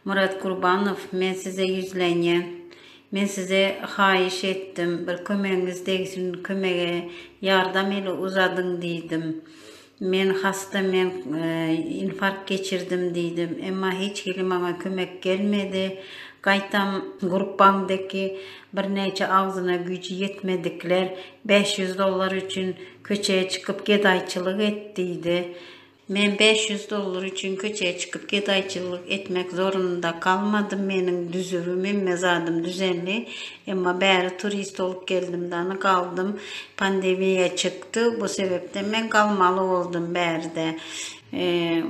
Murat Gurbanow men size ýüzlenýän. Men size haýyş etdim, bir kömegiňiz degsin, kömege ýardam eli uzadyň diýdim. Men hasta, men infarkt geçirdim diýdim. Emma hiç hili maňa kömek gelmedi. Gaýtam Gurbanbeki birnäçe agzyna güýji ýetmedikler bäş ýüz dollar üçin köçä çykyp gedaýçylyk et diýdi. Men bäş ýüz dollar üçin köçä çykyp gedaýçylyk etmek zorunda galmadym, meniň düzübim hemme zadym düzendi, emma bäri turist bolup geldim dany galdym, pandemiýa çykdy, bu sebepden men galmaly boldum bäride.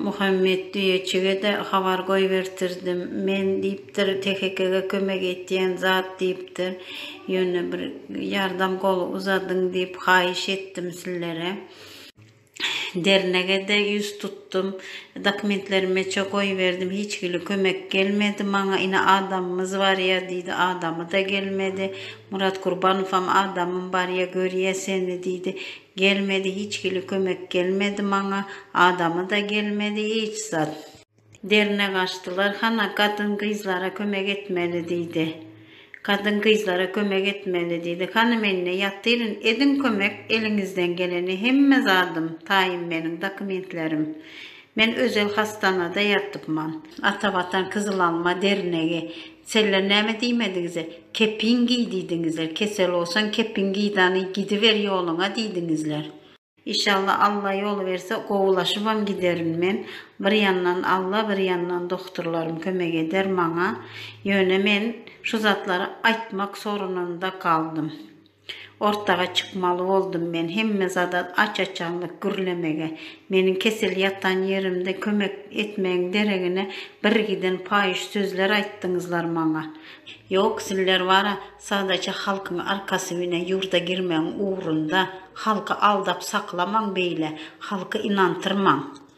Muhammet düýeçige-de habar goýbertirdim, men diýipdir THK-ge kömek etýän zat diýipdir, ýöne bir ýardam goly uzadyň diýip haýyş etdim sizlere. Dernege-de ýüz tutdum. Dokumentleri meçe goýberdim. Hiç hili kömek gelmedi maňa. Ine, adamymyz barýa, diýdi. Adamy-da gelmedi. Murat Gurbanowam adamym barýa, görýä seni, diýdi. Gelmedi, hiç hili kömek gelmedi maňa. Adamy-da gelmedi, hiç zat. Derine gaçdylar. Hana, gadyn-gyzlara kömek etmeli, diýdi. Gadyn-gyzlara kömek etmeli, diýdi. Hany, men-de ýatyryn. Ediň kömek, eliňizden geleni. Hemme zadym, taýym meniň, dokumentlerim. Men özel hasdanada ýatypman. Atawatan Kyzylalma dernegi, Senler näme diýmediňize? Kepin giý diýdiňizler. Kesel bolsaň, kepin giýdany, gidiber ýoluňa diýdiňizler. Işalla Alla ýol berse gowylaşybam giderin men, bir ýandan Alla bir ýandan dogturlarym kömek eder maňa, ýöne men şu zatlary aýtmak sorunynda galdym. Ortaga çykmaly boldum men hemme zada aç-açanlyk gürlemege, meniň kesel ýatan ýerimde kömek etmegiň deregine birgiden paýyş sözler aýtdyňyzlar maňa. Ýok sizler bara sadaça halkyň arkasy bine ýurda girmegiň ugrunda halky aldap saklamaň beýle halky ynantyrmaň.